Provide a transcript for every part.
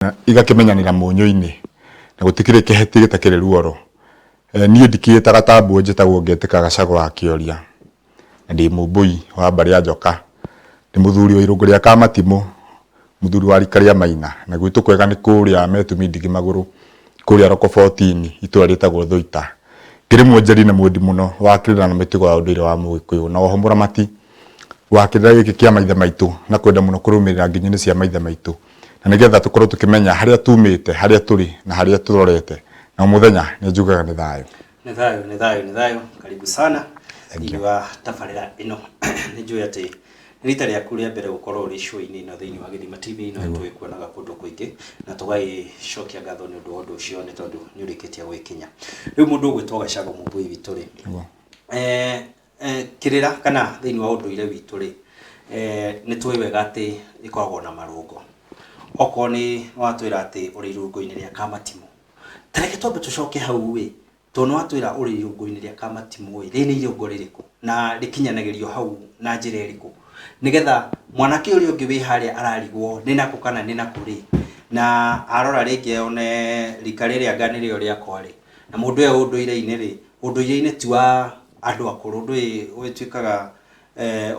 na igakĩmenyanĩra mũnyũ-inĩ na gũtikĩrĩ kĩheti gĩtakĩrĩ ruoro. Niĩ ndikĩĩtaga ta mbwe njĩtagwo Ngetĩka Gachagua wa Kĩoria, na ndĩ Mũmbũi wa mbarĩ ya Njoka. Ndĩ mũthuri wa irũngũ rĩa Kamatimũ, mũthuri wa rika rĩa Maina, na gwitũ kwega nĩ kũrĩa Metumi Ndigimagũrũ, kũrĩa Rokobotini, itũra rĩtagwo Thũita. Ngĩrĩ mwonjeri na mwendi mũno wa kĩrĩra na mĩtugo ya ũndũire wa Mũgĩkũyũ, na oho mũramati wa kĩrĩra gĩkĩ kĩa maithe maitũ na kwenda mũno kũrũmĩrĩra nginyo-inĩ cia maithe maitũ na nĩgetha tũkorwo tũkĩmenya harĩa tumĩte harĩa tũrĩ na harĩa tũrorete na o mũthenya nĩ njugaga nĩ thayũ nĩ thayũ nĩ thayũ nĩ thayũ karibu sana thĩinĩ wa tabarĩra ĩno nĩ njũĩ atĩ nĩ rita rĩaku rĩa mbere gũkorwo ũrĩ show-inĩ ĩno thĩinĩ wa gĩthima tv ĩno nĩ tũgĩkuonaga kũndũ kũingĩ na tũgagĩcokia ngatho nĩ ũndũ wa ũndũ ũcio nĩ tondũ nĩ ũrĩkĩtie gwĩkinya rĩu mũndũ ũgwĩtwo gacagũ mũmbui witũ rĩ Nĩguo. eh, Eh, kĩrĩra kana thĩinĩ wa ũndũire witũ rĩ eh, nĩ tũĩ wega atĩ ĩkoragwo na marũngo okorwo nĩ watwĩra atĩ ũrĩ irũngo-inĩ rĩa kamatimũ tareke twambe tũcoke hau ĩ tondũ nĩ watwĩra ũrĩ irũngo-inĩ rĩa kamatimũ ĩ rĩrĩ nĩ irũngo rĩrĩkũ na rĩkinyanagĩrio hau na njĩra ĩrĩkũ nĩgetha mwanake ũrĩa ũngĩ wĩ harĩa ararigwo nĩ nakũ kana nĩ nakũ rĩ na arora rĩngĩ one rika rĩrĩa anga nĩrĩo rĩakwa rĩ na mũndũ ũyũ ũndũire-inĩ rĩ Ũndũire-inĩ ti wa andũ akũrũ, ndũĩ ũgĩtuĩkaga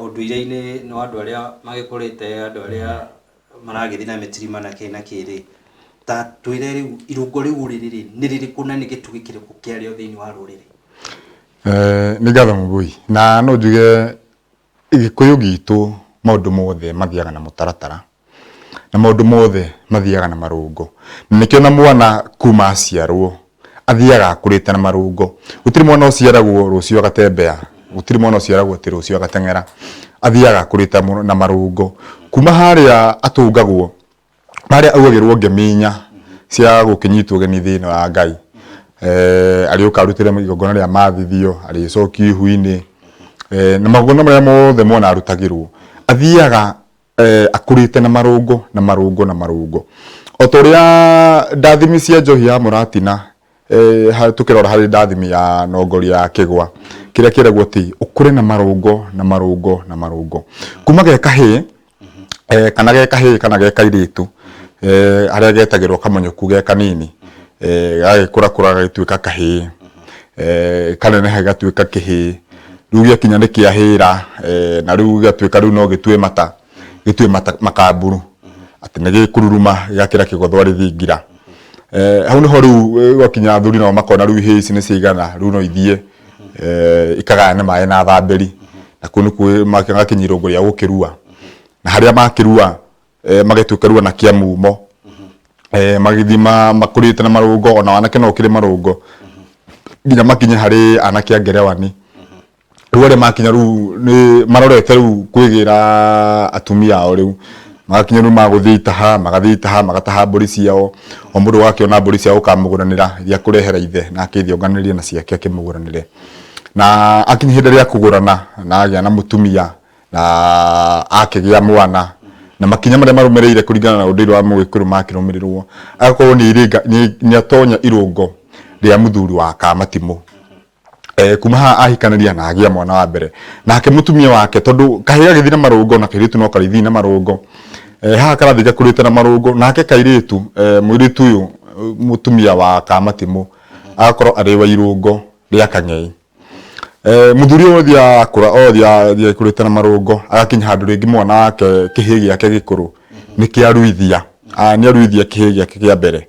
ũndũire-inĩ nĩ wa andũ arĩa magĩkũrĩte, andũ arĩa maragĩthiĩ na mĩtirima na kĩĩ na kĩĩ rĩ, ta twĩre rĩu irũngo rĩu ũrĩ rĩ nĩ rĩrĩkũ na nĩ gĩtugĩ kĩrĩkũ kĩarĩo thĩiniĩ wa rũrĩrĩ? Nĩ ngatho Mũvũi, na no njuge Gĩkũyũ gitũ maũndũ mothe mathiaga na mũtaratara, na maũndũ mothe mathiaga na marũngo. Na nĩkĩo ona mwana kuma aciarwo athiaga akũrĩte na marũngo. Gũtirĩ mwana ũciaragwo rũciũ agatembea, gũtirĩ mwana ũciaragwo atĩ rũciũ agateng'era, athiaga akũrĩte na marũngo. Kuma harĩa atũngagwo harĩa augagĩrwo ngeminya cia gũkĩnyitwo ũgeni thĩinĩ wa Ngai eh, arĩũka arutĩre igongona rĩa mathithio arĩcoki ihu-inĩ eh, na magongona marĩa mothe mwana arutagĩrwo athiaga eh, akũrĩte na marũngo na marũngo na marũngo o ta ũrĩa ndathimi cia njohi ya mũratina eh, ha- tukirora harĩ ndathimi ya nongori ya kĩgwa kĩrĩa kĩragwo ti ũkũre na marũngo na marũngo na marũngo kuma ge kahĩĩ eh, kana ge kahĩĩ kana ge kairĩtu eh, harĩa getagĩrwo kamonyoku ge kanini eh, gagĩkũra kũra gagĩtuĩka kahĩĩ eh, kaneneha gatuĩka kĩhĩĩ rĩu gĩakinya nĩ kĩahĩra eh, na rĩu gĩgatuĩka rĩu no gĩtue mata gĩtue mata- makamburu atĩ nĩ gĩkururuma gĩgakĩra kĩgothwa rĩthingira Eh, hau nĩho rĩu eh, gwakinya athuri nao makona rĩu ihĩĩ ici nĩ ciaigana rĩu no ithiĩ eh, ikagayane maĩ na thambĩri na kũu nĩkuo magakinya irũngo rĩa gũkĩrua na harĩa makĩrua eh, magĩtuĩka rua na kĩa mumo eh, magĩthiĩ ma- makũrĩte na marũngo ona wanake no ũkĩrĩ marũngo nginya makinye harĩ anake a ngerewani rĩu arĩa makinya rĩu nĩ marorete rĩu kwĩgĩra atumia ao rĩu magakinya rĩu magũthiĩ itaha magathiĩ itaha magataha mbũri ciao o mũndũ ũgakĩona mbũri ciao ũkamũgũranĩra iria kũrehera ithe nake ithe onganĩrie na ciake akĩmũgũranĩre na akinya ihinda rĩa kũgũrana na agĩa na mũtumia na akĩgĩa mwana na makinya marĩa marũmĩrĩire kũringana na ũndũire wa mũgĩkũyũ makĩrũmĩrĩrwo agakorwo nĩ irĩnga nĩ- nĩ atonya irũngo rĩa mũthuri wa kamatimũ eh, kuma haha ahikanaria na agia mwana wa mbere nake mutumia wake tondu kahi gagithi na marungo na kiritu no karithi na marungo eh, haha karathi gakurite na marungo nake kairitu eh, mwiritu uyu mutumia wa kamatimu agakorwo ari wa irungo ria kang'ei eh, muthuri uyu othi akura othi athia kurite na marungo agakinya handu ringi mwana wake kihi giake gikuru ni kiaruithia ah, ni aruithia kihi giake kia mbere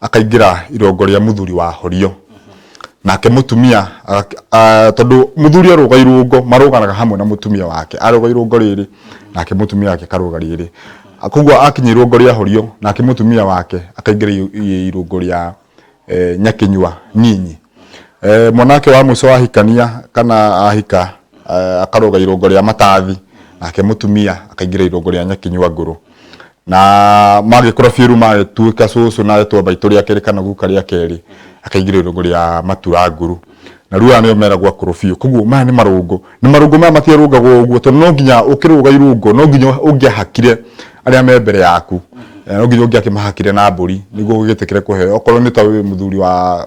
akaingĩra irongo rĩa mũthuri wa horio nake mũtumia tondũ mũthuri arũga irũngo marũganaga hamwe na mũtumia wake arũga irũngo rĩrĩ nake mũtumia wake karũga rĩrĩ koguo akinya irũngo rĩa horio nake mũtumia wake akaingĩra irũngo rĩa e, nyakinyua nyinyi Eh, mwanake wa mwico ahikania kana ahika eh, akaroga irongo ria matathi nake mutumia akaingira irongo ria nyakinyua nguru na magikura biru magituika cucu na etwa baitu ria keri kana guka ria keri akaingira irongo ria matura nguru na riu aya nio meragwo akuru biu koguo maya ni marungu ni marungu maya matirungagwo uguo tondu no nginya ukiruga irungu no nginya ungiahakire aria me mbere yaku Eh, no nginya ungiakimahakire na mburi niguo ugitikire kuheo okorwo ni ta wi muthuri wa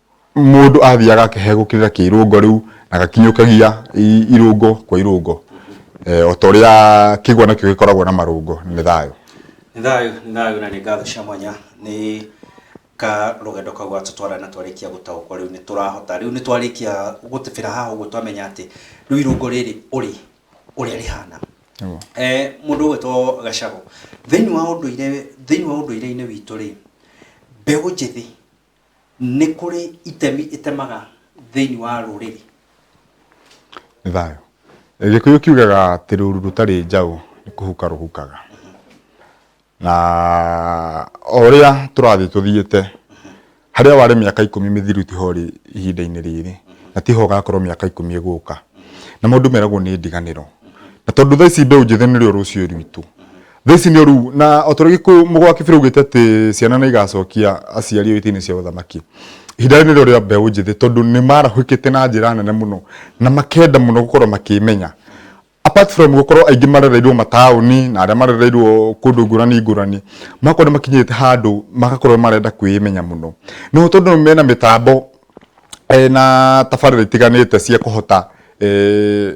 mũndũ athiaga akehe gũkĩrĩra kĩrũngo rĩu na gakinyũkagia i- irũngo kwa irũngo eh, o ta ũrĩa kĩgwa nakĩo gĩkoragwo na marũngo nĩ thayũ nĩ thayũ nĩ thayũ na nĩ ngatho cia mwanya nĩ ka rũgendo kau gatũtwara na twarĩkia gũtaũkwo rĩu nĩ tũrahota rĩu nĩ twarĩkia gũtĩbĩra haha ũguo twamenya atĩ rĩu irũngo rĩrĩ ũrĩ ũrĩa rĩhana Nĩguo. Eh, mũndũ ũgwĩtwo gacagũ thĩinĩ wa ũndũire thĩinĩ wa ũndũire-inĩ witũ rĩ mbeũ njĩthĩ nĩ kũrĩ itemi ĩtemaga thĩinĩ wa rũrĩrĩ nĩ thayũ gĩkũyũ kiugaga atĩ rũru rũtarĩ njaũ nĩ kũhuka rũhukaga na o ũrĩa tũrathiĩ tũthiĩte harĩa warĩ mĩaka ikũmi mĩthiru tiho ũrĩ ihinda-inĩ rĩrĩ na tiho ũgakorwo mĩaka ikũmi ĩgũka na mũndũ meragwo nĩ ndiganĩro na tondũ thaa ici mbeũ njĩthĩ nĩrĩo rũciũ rwitũ Thaici nĩ ũru na o tũrĩ gĩkũyũ mũgo wa kĩbĩrĩ ugĩte atĩ ciana nĩ igacokia aciari o itĩ-inĩ cia ũthamaki ihinda rĩrĩ nĩrĩo rĩa mbeũ njĩthĩ tondũ nĩ marahũkĩte na njĩra nene mũno na makenda mũno gũkorwo makĩmenya apart from gũkorwo aingĩ marereirwo mataũni na arĩa marereirwo kũndũ ngũrani ngũrani magakorwo nĩ makinyĩte handũ magakorwo marenda kwĩmenya mũno no tondũ mena mĩtambo eh, na tabarĩra itiganĩte cia kũhota eh,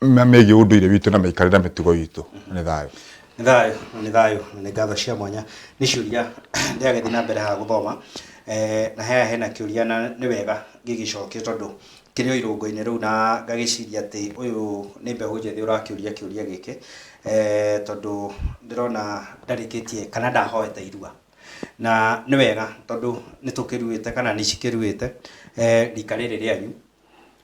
ma- megiĩ ũndũire witũ na mĩikarĩre na mĩtugo itũ nĩ thayũ nĩ thayũ nĩ thayũ na nĩ ngatho cia mwanya nĩ ciũria ndĩragĩthiĩ na mbere haha gũthoma Eh, na haya hena kĩũria na nĩ wega gĩgĩcokio tondũ kĩrĩ o irũngo-inĩ rĩu na ngagĩciria atĩ ũyũ nĩ mbeũ njĩthĩ ũrakĩũria kĩũria gĩkĩ Eh, tondũ ndĩrona ndarĩkĩtie kana ndahoete irua na nĩ wega tondũ nĩ tũkĩruĩte kana nĩ cikĩruĩte eh, rika rĩrĩ rĩanyu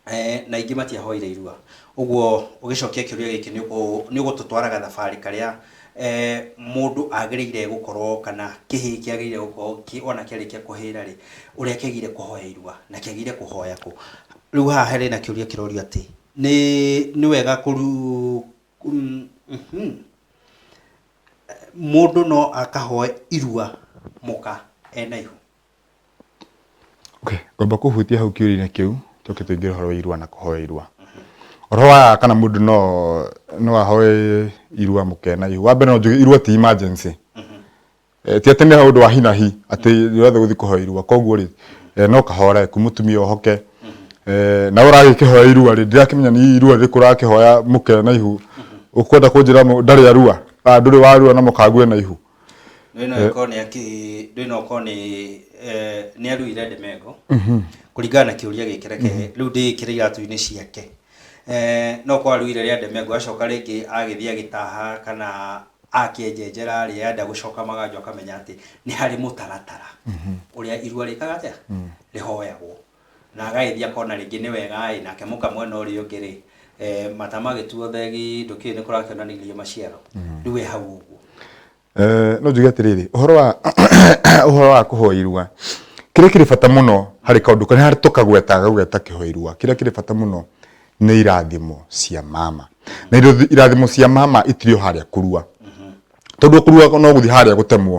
eh, na ingĩ matiahoire irua ũguo ũgĩcokia kĩũria gĩkĩ nĩ ũkũ- nĩ ũgũtũtwaraga thabarĩ karĩa eh, mũndũ agĩrĩire gũkorwo kana kĩhĩĩ kĩagĩrĩire gũkorwo kĩ- ona kĩarĩkia kũhĩra rĩ ũrĩa kĩagĩrĩire kũhoya irua na kĩagĩrĩire kũhoya kũ rĩu haha harĩ na kĩũria kĩrorio atĩ nĩ nĩ wega kũru mm, mhm. mũndũ no akahoe irua mũka ena ihu Okay, ngomba kũhutia hau kĩũria-inĩ kĩu tũke tũingĩre ũhoro wa irua na kũhoya irua ũhoro wa kana mũndũ no no ahoe irua mũkena ihu wa mbere no njuge irua ti emergency Eh, ti atĩ nĩ ũndũ wa hi na hi atĩ ũrathe gũthiĩ kũhoya irua koguo rĩ eh, no kahore ku mũtumia ohoke Eh, na ũragĩkĩhoya irua rĩ ndirakĩmenya nĩ irua rĩrĩkũ ũrakĩhoya mũkena ihu ũkwenda kũnjĩra mũ- ndarĩ arua Ah, ndũrĩ warua na mũkangue na ihu Ndũĩ no ĩkorwo nĩ akĩ ndũĩ no ĩkorwo nĩ eh, nĩ aruire ndimengo kũringana na kĩũria gĩkĩ reke rĩu ndĩĩkĩre iratũ-inĩ ciake Eh, no kwa aruire rĩa ndimengo acoka rĩngĩ agĩthiĩ agĩtaha kana akĩenjenjera rĩrĩa enda gũcoka maganjo akamenya atĩ nĩ harĩ mũtaratara ũrĩa irua rĩkaga atĩa rĩhoyagwo Na agagĩthiĩ akona rĩngĩ nĩ wega-ĩ, nake mũka mwena ũrĩa ũngĩ-rĩ, mata magĩtuo thegi, ndũkĩũĩ nĩ kũrakĩonanirio maciaro. Rĩu we hau ũguo. No njuge atĩrĩrĩ, ũhoro wa ũhoro wa kũhoa irua, kĩrĩa kĩrĩ bata mũno harĩ kaũndũ karĩa harĩ tũkagweta gagweta kĩhoa irua, kĩrĩa kĩrĩ bata mũno nĩ irathimo cia mama. Na irathimo cia mama itirĩ o harĩa kũrua. Tondũ kũrua no gũthiĩ harĩa gũtemwo.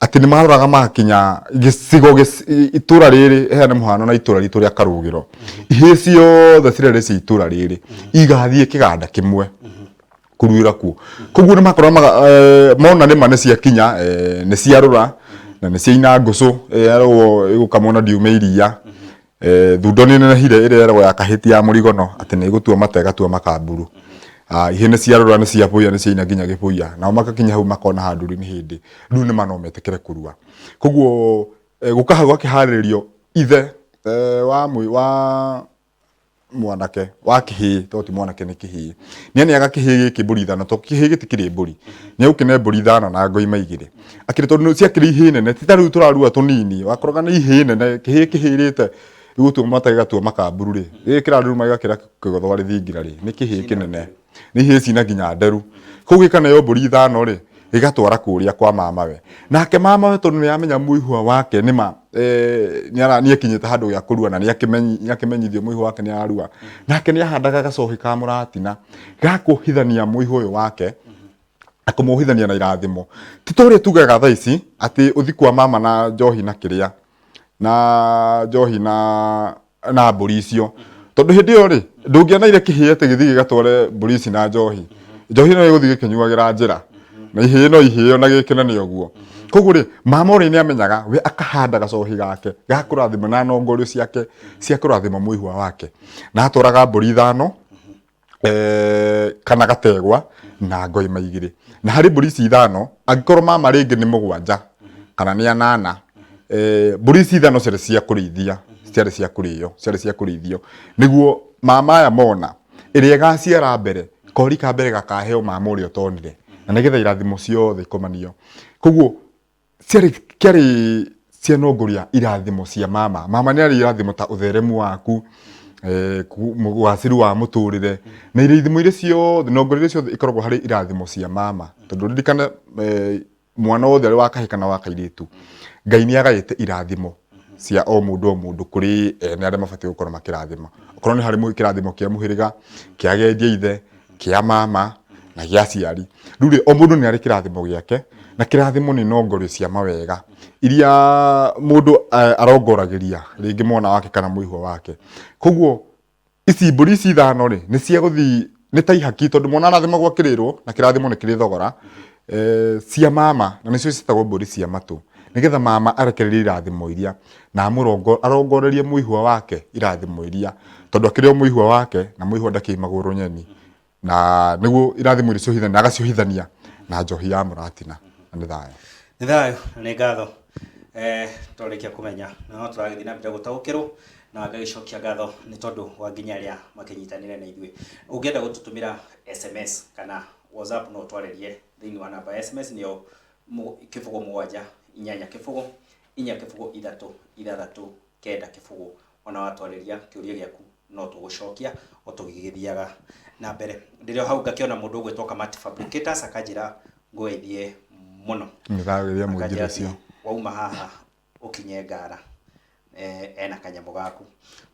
atĩ nĩ maroraga magakinya gĩcigo gĩc- i- itũra rĩrĩ heane mũhano na itũra ritũ rĩa karũgĩro ihĩĩ ciothe cirarĩ cia itũra rĩrĩ igathiĩ kĩganda kĩmwe kuruĩra kuo koguo nĩ makorwo maga- eh, mona nĩma nĩ ciakinya eh, nĩ ciarũra na nĩ ciaina ngũcũ yarwo ĩgũkamwo na ndiume iria Eh, thundo nĩ nenehire ĩrĩa yeragwo ya kahĩti ya mũrigono atĩ nĩ ĩgũtua mata ĩgatua makamburu Ah, ihĩ nĩ ciarora nĩ ciabũya nĩ ciaina nginya gĩbũya nao magakinya hau makona handũ rĩu nĩ hĩndĩ rĩu nĩ mano metĩkĩre kũrua koguo eh, gũkaha gwakĩharĩrĩrio ithe eh, wa, mwĩ- wa mwanake wa kĩhĩĩ to ti mwanake nĩ kĩhĩĩ nĩ aneaga kĩhĩĩ gĩkĩ mbũri ithano to kĩhĩĩ gĩtikĩrĩ mbũri nĩ agũkĩne mbũri ithano na ngoima igĩrĩ akĩrĩ tondũ ciakĩrĩ ihĩĩ nene ti ta rĩu tũrarua tũnini wakoroga nĩ ihĩĩ nene kĩhĩĩ kĩhĩrĩte rĩu ũtua mata gĩgatua makamburu rĩ rĩrĩ kĩraruruma gĩgakĩra kĩgotho arĩ thingira rĩ nĩ kĩhĩĩ kĩnene nĩ hĩci na nginya nderu kũu gĩkanayo mbũri ithano rĩ gĩgatwara kũrĩa kwa mamawe nake mamawe tondũ nĩ amenya mũihwa wake nĩ ma eh, nĩ akinyĩte handũ gĩa kũrua na nĩ akĩmenyithio mũihwa wake nĩ ararua nake nĩ ahandaga gacohi ka mũratina gakũhithania mũihwa ũyũ wake akũmũhithania na irathimo ti tũrĩ tugaga thaa ici atĩ ũthiku wa mama na njohi na kĩrĩa na njohi na na mbũri icio tondũ hĩndĩ ĩyo rĩ ndũngĩona irĩ kĩhĩe atĩ gĩthiĩ gĩgatware mbũri ici na njohi njohi ĩno ĩgũthiĩ gĩkĩnyuagĩra njĩra na ihĩe no ihĩe ona gĩkĩnene ũguo koguo rĩ mama ũrĩa nĩ amenyaga we akahanda gacohi gake ga kũrathima na nongorio ciake cia kũrathima mũihwa wake na atwaraga mbũri ithano eh, kana gategwa na ngoima igĩrĩ na harĩ mbũri ici ithano angĩkorwo mama rĩngĩ nĩ mũgwanja kana nĩ anana eh, mbũri ici ithano ciarĩ cia kũrĩithia ciarĩ cia kũrĩo ciarĩ cia kũrĩithio nĩguo mama aya mona ĩrĩa ĩgaciara mbere kori ka mbere gakaheo mama ũrĩa ũtonire na nĩgetha irathimo ciothe ikomanio koguo ciarĩ kĩarĩ cianongoria irathimo cia mama mama nĩ arĩ irathimo ta ũtheremu waku eh, ku- mu- ũgaacĩru wa mũtũrĩre na irathimo iria ciothe nongoria iria ciothe ikoragwo harĩ irathimo cia mama tondũ ririkana eh, mwana wothe arĩ wa kahĩ kana wa kairĩtu ngai nĩ agaĩte irathimo cia o mũndũ o mũndũ kũrĩ ene arĩa mabatiĩ gũkorwo makĩrathima okorwo nĩ harĩ mũ- kĩrathimo kĩa mũhĩrĩga kĩa agendia ithe kĩa mama na gĩa aciari rĩu rĩ o mũndũ nĩ arĩ kĩrathimo gĩake na kĩrathimo nĩ nongorio cia mawega iria mũndũ eh, arongoragĩria rĩngĩ mwana wake kana mũihwo wake koguo ici mbũri ici ithano rĩ nĩ cia gũthiĩ nĩ ta ihaki tondũ mwana arathimagwo akĩrĩrwo na kĩrathimo nĩ kĩrĩ thogora eh, cia mama na nĩcio ciĩtagwo mbũri cia matũ nĩgetha mama arekererie irathimo iria na amũrongo arongorerie mũihwa wake irathimo iria tondũ akĩrĩ o mũihwa wake na mũihwa ndakĩimagwo rũnyeni na nĩguo irathimo irĩciohithania na agaciohithania na njohi ya mũratina na nĩ thayũ nĩ thayũ na nĩ ngatho eh, twarĩkia kũmenya na no tũragĩthiĩ na mbere gũtaũkĩrwo na ngagĩcokia ngatho nĩ tondũ wa nginya arĩa makĩnyitanĩre na ithuĩ ũngĩenda gũtũtũmĩra sms kana whatsapp no ũtwarĩrie thĩinĩ wa namba ya sms nĩyo mũ- kĩbũgũ mũgwanja inyanya kĩbũgũ inya kĩbũgũ ithatũ ithathatũ kenda kĩbũgũ Ona watwarĩria kĩũria gĩaku no tũgũcokia o tũgĩgĩthiaga na mbere. Ndĩrĩ o hau ngakĩona mũndũ ũgwĩtwo Kamati Fabricators akanjĩra ngũgeithie mũno. Nĩndagĩria mũinjĩra Akanjĩra ũcio. atĩ wauma haha ũkinye ngara eh, ena kanyamũ gaku.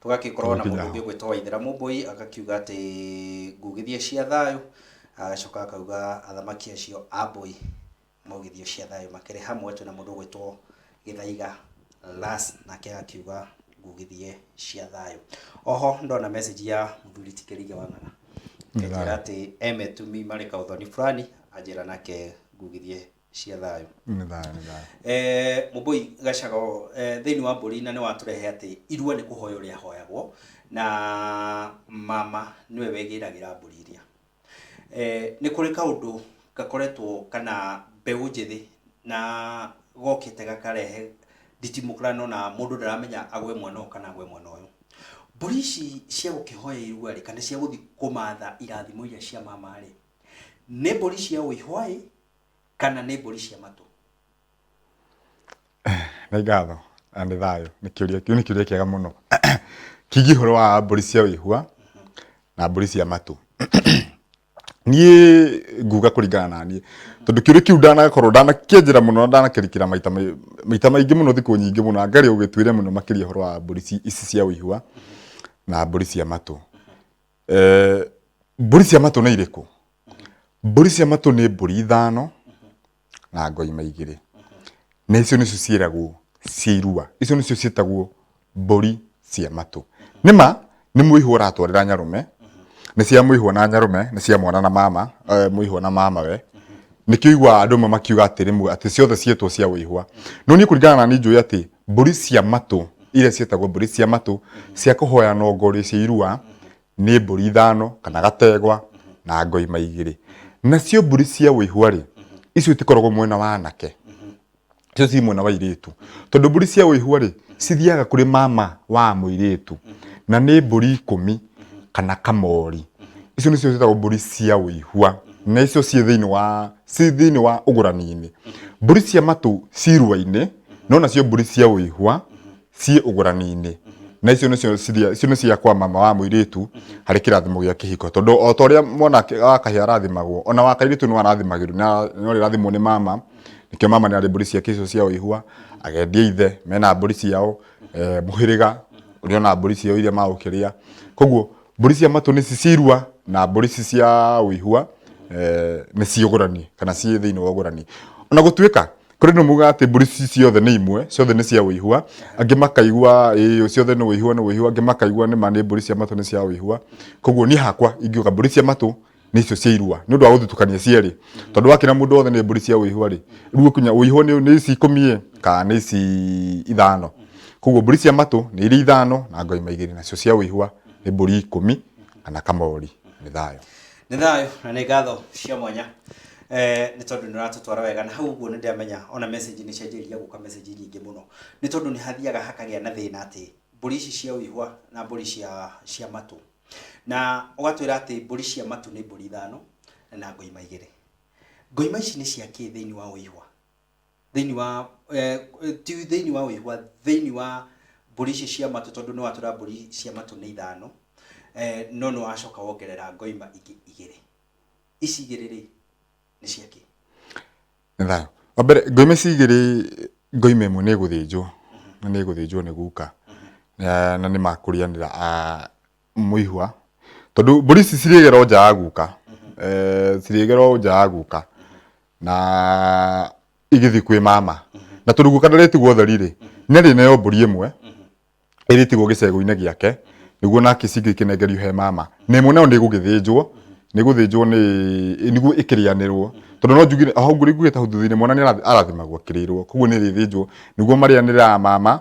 Tũgagĩkorwo na Tũgũkinya mũndũ ũngĩ hau. ũgwĩtwo Waithĩra Mũmbũi agakiuga atĩ ngugithie cia thayũ, agacoka akauga athamaki acio a Mbũi Mũgithio cia thayũ makĩrĩ hamwe twĩna mũndũ ũgwĩtwo Gĩthaiga Lars nake agakiuga ngugithie cia thayũ. Oho ndona message ya mũthuri ti Kĩrige wa Ng'ara. Akĩnjĩra atĩ e metumi marĩ kaũthoni fulani anjĩra nake ngugithie cia thayũ. Nĩ thayũ nĩ thayũ. Eh, Mũmbũi Gacago eh, thĩinĩ wa mbũri na nĩ watũrehe atĩ irua nĩ kũhoywo rĩahoyagwo na mama nĩwe wegĩragĩra mbũri iria. Nĩ kũrĩ kaũndũ gakoretwo kana mbeũ njĩthĩ na gokĩte gakarehe nditimũrano na mũndũ ndaramenya agwe mwena ũyũ kana agwe mwena ũyũ. Mbũri ici cia gũkĩhoya irua rĩ kana cia gũthiĩ kũmatha irathimo iria cia mama rĩ, nĩ mbũri cia ũihwa ĩ kana nĩ mbũri cia matũ? Nĩ ngatho na nĩ thayũ, nĩ kĩũria, kĩu nĩ kĩũria kĩega mũno. Kĩgiĩ ũhoro wa mbũri cia wĩhua na mbũri cia matũ. Niĩ nguga kũringana na niĩ, tondũ kĩũria kĩu ndanakorwo, ndanakĩenjera mũno na ndanakĩrikĩra maita maita maingĩ mũno thikũ nyingĩ mũno anga rĩo ũgĩtuĩre mũno makĩria ũhoro wa mbũri ici cia wĩhua na mbũri cia matũ. Mbũri cia matũ nĩ irĩkũ? Mbũri cia matũ nĩ mbũri ithano. na ngoima igĩrĩ na icio nĩcio ciĩragwo cia irua icio nĩcio ciĩtagwo mbũri cia matũ nĩma nĩ mũihũ ũratwarĩra nyarũme nĩ cia mũihũ na nyarũme nĩ cia mwana na mama eh, mũihũ na mama we nĩkĩo igua andũ amwe makiuga atĩrĩ mu- atĩ ciothe ciĩtwo cia wĩihwa no niĩ kũringana na niĩ njũĩ atĩ mbũri cia matũ iria ciĩtagwo mbũri cia matũ cia kũhoya nongo rĩ cia irua nĩ mbũri ithano kana gategwa na ngoima igĩrĩ nacio mbũri cia wĩihwa rĩ icio itikoragwo mwena wa anake icio ci mwena wa airĩtu tondũ mbũri cia wĩihwa rĩ cithiaga kũrĩ mama wa mũirĩtu na nĩ mbũri ikũmi kana kamori icio nĩcio ciĩtagwo mbũri cia wĩihwa na icio ciĩ thĩinĩ wa ciĩ thĩinĩ wa ũgũrani-inĩ mbũri cia matũ cirua-inĩ no nacio mbũri cia wĩihwa ciĩ ũgũrani-inĩ na icio nĩcio ciria- icio nĩ cia kwa mama wa mũirĩtu harĩ kĩrathimo gĩa kĩhiko tondũ o ta ũrĩa mwana ake- wa kahĩa arathimagwo ona wa kairĩtu no arathimagĩrwo na no rĩrathimwo nĩ mama nĩkĩo mama nĩarĩ mbũri ciake icio cia ũihua agendia ithe mena mbũri ciao eh, mũhĩrĩga ũrĩa ona mbũri ciao iria magũkĩrĩa koguo mbũri cia matũ nĩ cicirua na mbũri ici cia ũihua eh, nĩ ciũgũrani kana ciĩ thĩinĩ wa ũgũrani ona gũtuĩka kũrĩ nĩ muga atĩ mbũri ici ciothe nĩ imwe ciothe nĩ cia ũihua angĩ makaigua ĩĩ ciothe nĩ ũihua nĩ ũihua angĩ makaigua nĩ ma nĩ mbũri cia matũ nĩ cia ũihua koguo niĩ hakwa ingiuga mbũri cia matũ nĩ icio cia irua nĩ ũndũ wa gũthutũkania cierĩ tondũ wakĩra mũndũ wothe nĩ mbũri cia ũihua rĩ rĩu ũkinya ũihua nĩ nĩ ici ikũmi ĩ kana nĩ ici ithano koguo mbũri cia matũ nĩ irĩ ithano na ngoima igĩrĩ nacio cia ũihua nĩ mbũri ikũmi kana kamori nĩ thayũ Nĩ thayũ na nĩ ngatho cia mwanya eh, nĩ tondũ nĩ ũratũtwara wega na hau ũguo nĩ ndĩramenya ona message nĩ cianjĩrĩria gũka message nyingĩ mũno nĩ tondũ nĩ hathiaga hakagĩa na thĩna atĩ mbũri ici cia ũihwa na mbũri cia, cia matũ na ũgatwĩra atĩ mbũri cia matũ nĩ mbũri ithano na ngoima igĩrĩ ngoima ici nĩ cia kĩ thĩinĩ wa ũihwa thĩinĩ wa eh, ti thĩinĩ wa ũihwa thĩinĩ wa mbũri ici cia matũ tondũ nĩ watũra mbũri cia matũ nĩ ithano eh, no nĩ wacoka wongerera ngoima ingĩ igĩrĩ ici igĩrĩ rĩ nĩ cia kĩ nĩ thayo wa mbere ngoime ici igĩrĩ ngoime ĩmwe nĩ ĩgũthĩnjwo na nĩ ĩgũthĩnjwo nĩ guka na na nĩ makũrianĩra a- mũihwa tondũ mbũri ici cirĩgera o nja ya guka Eh, cirĩgera o nja ya guka na igĩthiĩ kwĩ mama na tondũ guka ndaretigwo ũtheri rĩ nĩ arĩneo mbũri ĩmwe ĩrĩtigwo gĩcegũ-inĩ gĩake nĩguo nake cingĩ ikĩnengerio he mama na ĩmwe nayo nĩ ĩgũgĩthĩnjwo nĩ ĩgũthĩnjwo nĩ nĩguo ĩkĩrĩanĩrwo tondũ no njugire hau ngũrĩ ngugĩte hau thutha-inĩ mwana nĩ arathi- arathimagwo akĩrĩrwo koguo nĩ ĩrĩthĩnjwo nĩguo marĩanĩre a mama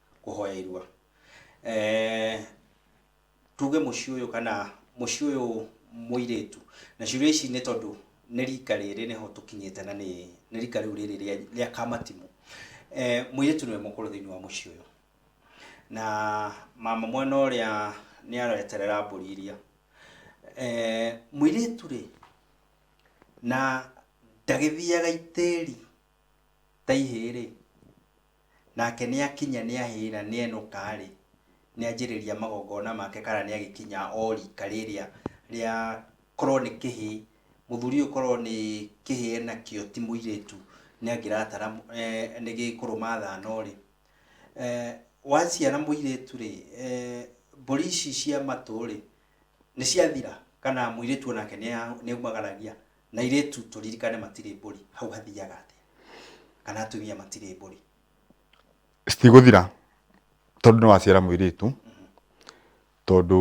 kũhoya irua. Eh, tuge mũciĩ ũyũ kana mũciĩ ũyũ mũirĩtu na ciũria ici nĩ tondũ nĩ rika rĩrĩ nĩho tũkinyĩte na nĩ nĩ rika rĩu rĩrĩ rĩa- rĩa kamatimũ eh, mũirĩtu nĩwe mũkũrũ thĩinĩ wa mũciĩ ũyũ na mama mwena ũrĩa nĩ areterera mbũri iria eh, mũirĩtu rĩ na ndagĩthiaga itĩri ta ihĩĩ rĩ Nake nĩakinya nĩahĩĩra nĩenũka-rĩ, nĩanjĩrĩria magongona make kana nĩagĩkinya o rika rĩrĩa rĩa korwo nĩ kĩhĩĩ, mũthuri ũyũ korwo nĩ kĩhĩĩ enakĩo ti mũirĩtu nĩangĩratara nĩ gĩkũrũ mathano-rĩ, waciara mũirĩtu-rĩ, mbũri ici cia matũ-rĩ, nĩciathira kana mũirĩtu onake nĩaumagaragia? na irĩtu tũririkane matirĩ mbũri hau hathiaga atĩa kana atumia matirĩ mbũri citigũthira tondũ nĩ waciara mũirĩtu tondũ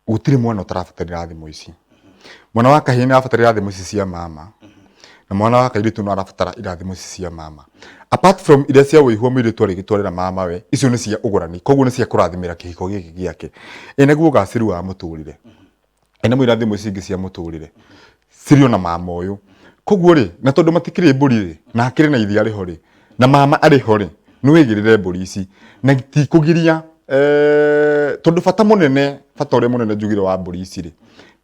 gũtirĩ mwana ũtarabatarĩra thimũ ici mwana wa kahĩĩ nĩ arabatarĩra thimũ ici cia mama na mwana wa kairĩtu no arabatara irathimo ici cia mama apart from iria cia wĩihua mũirĩtu arĩgĩtwarĩra mama we icio nĩ cia ũgũrani koguo nĩ cia kũrathimĩra kĩhiko gĩkĩ gĩake ĩ naguo ũgacĩru wa mũtũrĩre e, nĩ mwĩra thimũ ici ingĩ cia mũtũrĩre cirĩ ona mama ũyũ koguo rĩ na tondũ matikĩrĩ mbũri rĩ na hakĩrĩ na iria rĩho rĩ na mama arĩho rĩ nĩ wĩgĩrĩre mbũri ici na tikũgiria e, tondũ bata mũnene bata ũrĩa mũnene njugire wa mbũri ici rĩ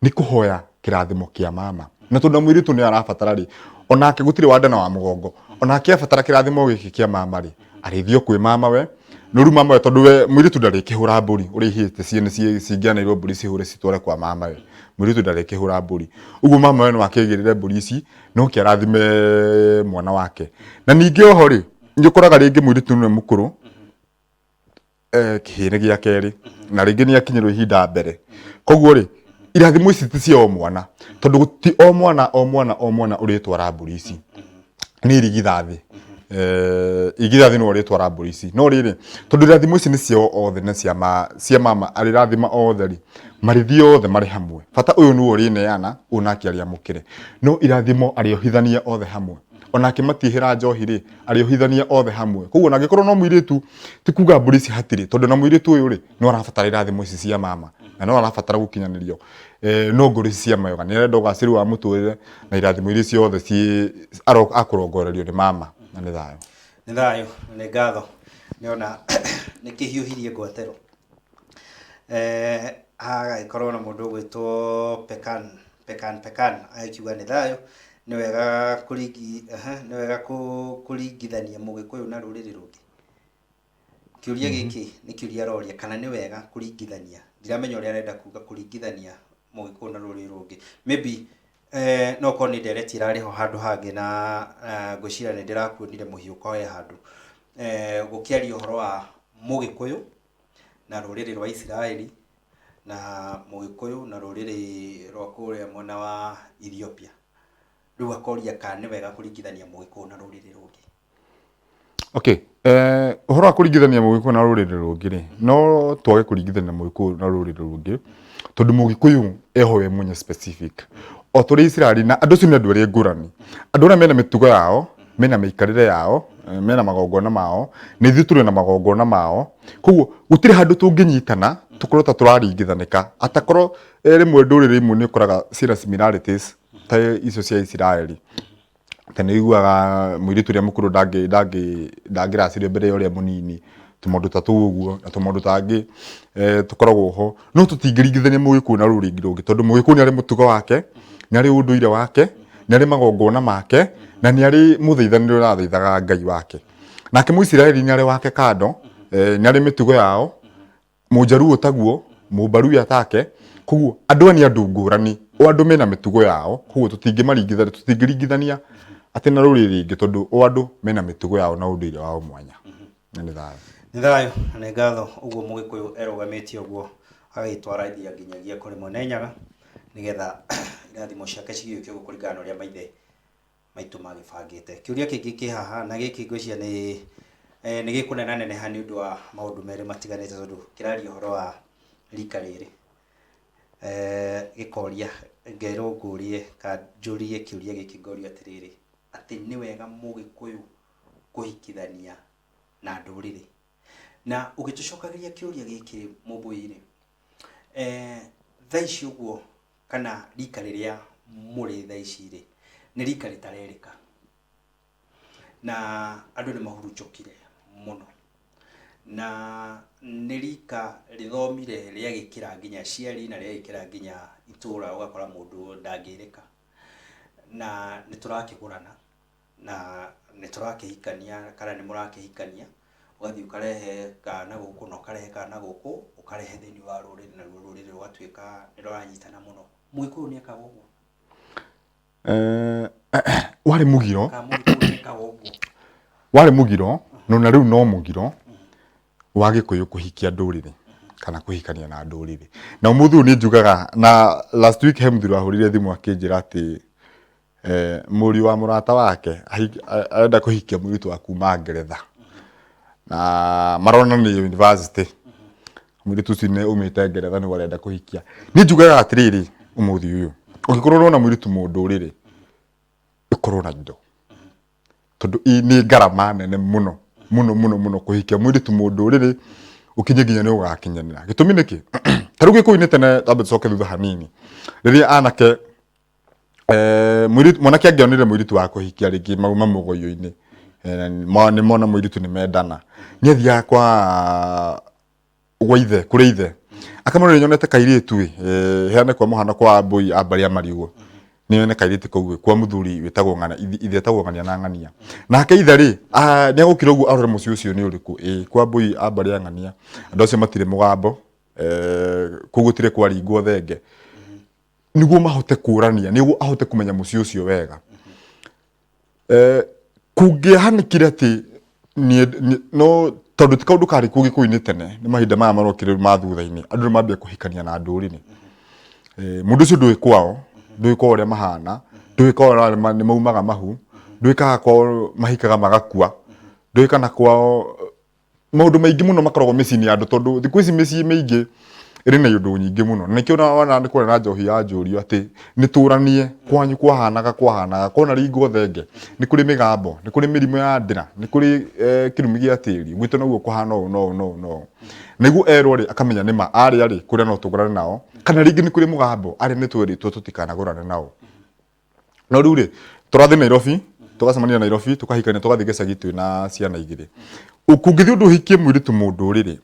nĩ kũhoya kĩrathimo kĩa mama na tondũ mũirĩtu nĩ arabatara rĩ onake gũtirĩ wandana wa mũgongo onake abatara kĩrathimo gĩkĩ kĩa mama rĩ arĩithio kwĩ mamawe nuru mamawe tondu we mwiritu ndarikihura mburi urihite ciene cingĩanairwo mburi cihure citware kwa mamawe mwiritu ndarikihura mburi uguo mamawe no akigirire mburi ici no kiarathime mwana wake na ningi oho ri nĩ ũkoraga rĩngĩ mwiritu nĩ mũkũrũ eh, kĩhĩnĩ gĩa kerĩ na rĩngĩ nĩ akinyĩrwo ihinda mbere koguo rĩ irathimo ici ti cia o mwana tondũ ti o mwana o mwana o mwana ũrĩtwara mbũri ici nĩ irigithathi Eh, irigithathi no ũrĩtwara mbũri ici no rĩrĩ tondũ irathimo ici nĩ ciao othe na cia ma- cia mama arĩrathima othe rĩ marĩthiĩ othe marĩ hamwe bata ũyũ nĩwe ũrĩneana ũyũ nake arĩamũkĩre no irathimo arĩohithania othe hamwe ona akĩmatiĩhĩra njohi rĩ arĩohithania othe hamwe koguo na angĩkorwo no mũirĩtu ti kuga mbũri ici hatirĩ tondũ na mũirĩtu ũyũ rĩ no arabatara irathimo ici cia mama na no arabatara gũkinyanĩrio eh, no ngoro ici cia mayoga nĩ arenda ũgacĩru wa mũtũrĩre na irathimo iria ciothe ciĩ aro- akũrongorerio nĩ mama na nĩ thayũ nĩ thayũ na nĩ ngatho nĩona nĩ kĩhiũhirie ngwatĩro Eh, hagagĩkorwo na mũndũ ũgwĩtwo pekan pekan pekan akiuga nĩ thayũ nĩ wega kũringi aha, nĩ wega kũ- kũringithania mũgĩkũyũ na rũrĩrĩ rũngĩ kĩũria gĩkĩ nĩ kĩũria aroria kana nĩ wega kũringithania ndiramenya ũrĩa arenda kuga kũringithania mũgĩkũyũ na rũrĩrĩ rũngĩ maybe eh, no korwo nĩ ndereti ĩrarĩ ho handũ hangĩ na eh, ngwĩciria nĩ ndĩrakuonire mũhiũ koe handũ eh, gũkĩaria ũhoro wa mũgĩkũyũ na rũrĩrĩ rwa isiraeli na mũgĩkũyũ na rũrĩrĩ rwa kũrĩa mwena wa Ethiopia. Rĩu akoria kana nĩ wega kũringithania mũgĩkũyũ na rũrĩrĩ rũngĩ. Okay, eh, ũhoro wa kũringithania mũgĩkũyũ na rũrĩrĩ rũngĩ rĩ no twage kũringithania mũgĩkũyũ na rũrĩrĩ rũngĩ tondũ mũgĩkũyũ eho we mwenye specific o tũrĩ Israeli na andũ acio nĩ andũ erĩ ngũrani andũ arĩa mena mĩtugo yao mena mĩikarĩre yao eh, mena magongona mao na ithuĩ tũrĩ na magongona mao koguo gũtirĩ handũ tũngĩnyitana tũkorwo ta tũraringithanĩka atakorwo eh, rĩmwe ndũrĩrĩ imwe nĩ ũkoraga ciĩna similarities ta icio cia Isiraeli ta nĩ iguaga mũirĩtu ũrĩa mũkũrũ ndangĩ- ndangĩ- ndangĩracirio mbere ya ũrĩa mũnini tũmaũndũ ta tũu ũguo na tũmaũndũ tangĩ eh, tũkoragwo ho no tũtingĩringithania mũgĩkũyũ na rũrĩrĩ rũngĩ tondũ mũgĩkũyũ nĩ arĩ mũtugo wake nĩ arĩ ũndũire wake nĩ arĩ magongona make na nĩ arĩ mũthaithanĩre ũrathaithaga ngai wake nake mũisiraeli nĩ arĩ wake kando eh, nĩ arĩ mĩtugo yao mũnjaruo taguo mũmbaruya take koguo andũ aya nĩ andũ ngũrani o andũ mena mĩtugo yao koguo tũtingĩmaringithania tũtingĩringithania atĩ na rũrĩrĩ rĩngĩ tondũ o andũ mena mĩtugo yao na ũndũire wao mwanya na nĩ thayũ nĩ thayũ na nĩ ngatho ũguo mũgĩkũyũ erũgamĩtie ũguo agagĩtwara iria nginyagia kũrĩ mwene nyaga nĩgetha irathimo ciake cigĩũke ũguo kũringana na ũrĩa maithe maitũ magĩbangĩte kĩũria kĩngĩ kĩ haha na gĩkĩ ngwĩciria nĩ eh, nĩ gĩkũnena neneha nĩ ũndũ wa maũndũ merĩ matiganĩte tondũ kĩraria ũhoro wa rika rĩrĩ Eh, gĩkoria ngerwo ngũrie ka njũrie kĩũria gĩkĩ ngorio atĩrĩrĩ atĩ nĩ wega mũgĩkũyũ kũhikithania na ndũrĩrĩ na ũgĩtũcokagĩria kĩũria gĩkĩ mũmbũi-rĩ eh, thaa ici ũguo kana rika rĩrĩa mũrĩ thaa ici-rĩ nĩ rika rĩtarerĩka na andũ nĩ mahurunjũkire mũno na nĩ rika rĩthomire rĩagĩkĩra nginya aciari na rĩagĩkĩra nginya itũra ũgakora mũndũ ndangĩrĩka na nĩ tũrakĩgũrana na nĩ tũrakĩhikania kana nĩ mũrakĩhikania, ũgathiĩ ũkarehe kana gũkũ na ũkarehe kana gũkũ, ũkarehe thĩiniĩ wa rũrĩrĩ naruo rũrĩrĩ rũgatuĩka nĩ rũranyitana mũno. Mũgĩkũyũ nĩ ekaga ũguo? Warĩ mũgiro, Kana Mũgĩkũyũ nĩ ekaga ũguo? warĩ mũgiro na ona rĩu no mũgiro wa gĩkũyũ kũhikia ndũrĩrĩ kana kũhikania na ndũrĩrĩ. Na ũmũthĩ ũyũ nĩ njugaga na last week he mũthuri wahũrĩire thimũ akĩnjĩra atĩ Eh, mũriũ wa mũrata wake ahik- a- arenda kũhikia mũirĩtu wa kuma ngeretha na maronanĩria university mũirĩtu ũcio nĩ umĩte ngeretha nĩguo arenda kũhikia niĩ njugaga atĩrĩrĩ ũmũthĩ ũyũ ũngĩkorwo ũrona mũirĩtu mũndũ rĩrĩ ĩkorwo na indo tondũ ĩ- nĩ ngarama nene mũno mũno mũno mũno kũhikia mũirĩtu mũndũ rĩrĩ ũkinye nginya nĩ ũgakinyanĩra gĩtũmi nĩkĩ tarĩu gĩkũinĩ tene twambe tũcoke thutha hanini rĩrĩa anake Eh, mũirĩtu- mwanake angĩonire mũirĩtu wa kũhikia rĩngĩ mau mamũgoyo-inĩ eh, ma- nĩ mona mũirĩtu nĩ mendana nĩ athiaga kwa gwa ithe kũrĩ ithe akamwĩra nĩ nyonete kairĩtu ĩ eh, heane kwa mũhano kwa mbũi a mbarĩa marigũ nĩ nyone kairĩtu kau ĩ, kwa mũthuri wĩtagwo ng'ana ithi- ithe etagwo ng'ania na ng'ania nake ithe rĩ ah, nĩ agũkira ũguo arore mũciĩ ũcio nĩ ũrĩkũ ĩ kwa mbũi a mbarĩa ng'ania andũ acio matirĩ mũgambo eh, kũu gũtirĩ kwaringwo thenge niguo mahote kũrania niguo ahote kumenya musi ucio wega eh kungĩahanĩkire atĩ no tondu ti kaundu kari kå gä ini tene ni mahinda maya marokire ma thutha-inĩ andũ nĩ mambia kũhikania na ndũrĩrĩ eh, mundu ucio ndũĩ kwao ndũĩ kwao ũrĩa mahana ndũĩ kwao nĩ maumaga mahu ndũĩ kana kwao mahikaga magakua ndũĩ kana kwao maũndũ maingĩ mũno makoragwo mĩciĩ-inĩ ya andũ tondũ thikũ ici mĩciĩ mĩingĩ ĩrĩ na iũndũ nyingĩ mũno na nĩkĩo wona nĩ kũrĩ na njohi ya njũrio atĩ nĩtũranie kwanyu kwahanaga kwahanaga kona ringwo thenge nĩ kũrĩ mĩgambo nĩ kũrĩ mĩrimũ ya ndĩra nĩ kũrĩ kĩrumi gĩa tĩri gwitũ noguo kũhana ũũ na ũũ na ũũ na ũũ nĩguo erwo rĩ akamenya nĩma arĩa rĩ kũrĩa no tũgũrane nao kana rĩngĩ nĩ kũrĩ mũgambo arĩa nĩ twerĩtwo tũtikanagũrane nao. no rĩu rĩ tũrathiĩ nairobi tũgacemania nairobi tũkahikania tũgathiĩ gĩcagi twĩ na ciana igĩrĩ kũngĩthiĩ ũndũ ũhikie mũirĩtu mũndũ rĩrĩ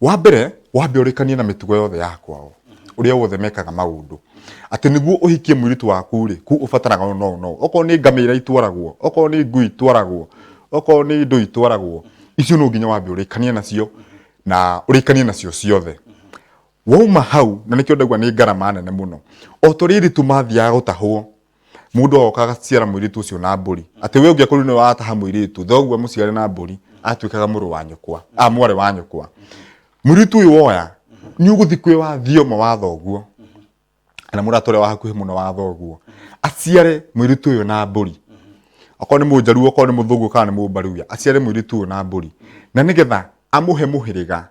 wa mbere wambe ũrĩkanie na mĩtugo yothe ya kwao ũrĩa wothe mekaga maũndũ atĩ nĩguo ũhikie mũirĩtu waku rĩ kuu ũbataraga ũũ na ũũ na ũũ okorwo nĩ ngamĩra itwaragwo okorwo nĩ ngui itwaragwo okorwo nĩ indo itwaragwo icio no nginya wambe ũrĩkanie nacio na ũrĩkanie nacio ciothe wauma hau na nĩkĩo ndaigua nĩ ngarama nene mũno o tũrĩrĩ tũmathiaga gũtahwo mũndũ agoka agaciara mũirĩtu ũcio na mbũri atĩ we ũngĩakorwo nĩ wataha mũirĩtu thoguo mũciare na mbũri atuĩkaga mũrũ wa nyũkwa a mwarĩ wa nyũkwa mũirĩtu ũyũ woya nĩ ũgũthiĩ kwĩ wa thioma wa thoguo kana mũrata ũrĩa wa hakuhĩ mũno wa thoguo aciare mũirĩtu ũyũ na mbũri okorwo nĩ mũnjaruo okorwo nĩ mũthũngũ kana nĩ mũmbaruya aciare mũirĩtu ũyũ na mbũri na nĩgetha amũhe mũhĩrĩga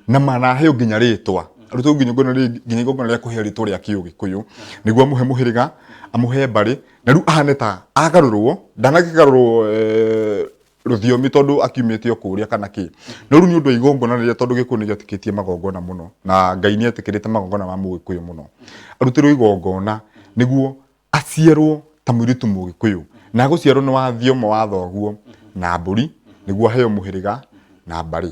na manaheo nginya rĩtwa rĩu nginya ngona rĩ- nginya igongona rĩa kũheo rĩtwa rĩa kĩũgĩkũyũ nĩguo amũhe mũhĩrĩga amũhe mbarĩ na rĩu ahane ta agarũrwo ndanakĩgarũrwo eh, rũthiomi tondũ akiumĩte o kũrĩa kana kĩ no rĩu nĩ ũndũ wa igongona rĩrĩa tondũ gĩkũyũ nĩ gĩetĩkĩtie magongona mũno na ngai nĩ etĩkĩrĩte magongona ma mũgĩkũyũ mũno arutĩrwo igongona nĩguo aciarwo ta mũirĩtu mũgĩkũyũ na agũciarwo nĩ wa thioma wa thoguo na mbũri nĩguo aheo mũhĩrĩga na mbarĩ